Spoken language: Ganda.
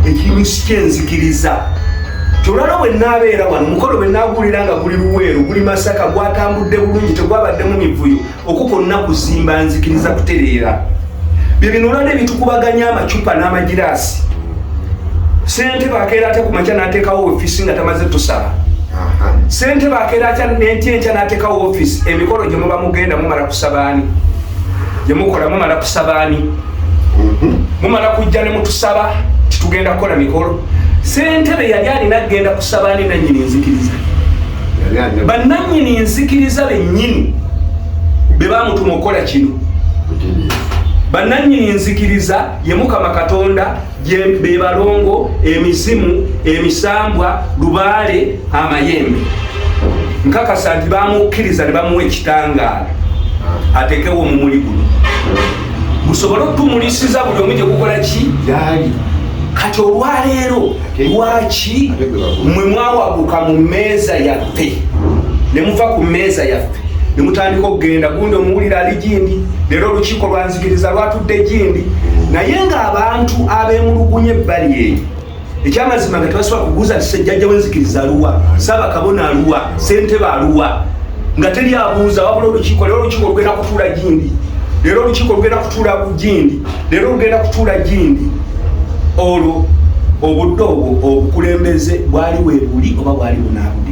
ekimu kyenzikiriza kyolwala bwe naabeera wano mukolo bwe naaguwulira nga guli luweero guli masaka gwatambudde bulungi tegwabaddemu mivuyo okwo kwonna kuzimba nzikiriza kutereera bye bino olwala ebitukubaganya amacupa n'amagiraasi sente bakeera atya ku makya n'ateekawo ofiisi nga tamaze tusaba sente bakeera atya nenti enkya n'ateekawo ofiisi emikolo gye muba mugenda mumala kusabaani gye mukola mumala kusabaani mhm. mumala kujja ne mutusaba titugenda kukola mikolo sentebe yali alina kugenda kusaba ni nanyini nzikiriza bananyini nzikiriza benyini bebamutuma okukola kino bananyini nzikiriza ye mukama katonda bebalongo emizimu emisambwa lubaale amayembe nkakasa nti bamukkiriza ne bamuwa ekitangaala atekewo omumuli guno musobole okutumulisiza buli omu gye gukola ki yaali kati olwaleero lwaki mwe mwawaguka mu mmeeza yaffe ne muva ku mmeeza yaffe ne mutandika okugenda gundi omuwulira ali gindi leero olukiiko lwanzikiriza lwatudde gindi naye ng'abantu abemulugunya ebbali eyo ekyamazima nga tebasobola kubuuza nti sejjajja wenzikiriza aluwa saba kabona aluwa sentebe aluwa nga teri abuuza wabula olukiiko lero olukiiko lugenda kutuula gindi lero olukiiko lugenda kutuula ku gindi lero lugenda kutuula gindi olwo obudde obwo obukulembeze bwali webuli oba bwali bunabudi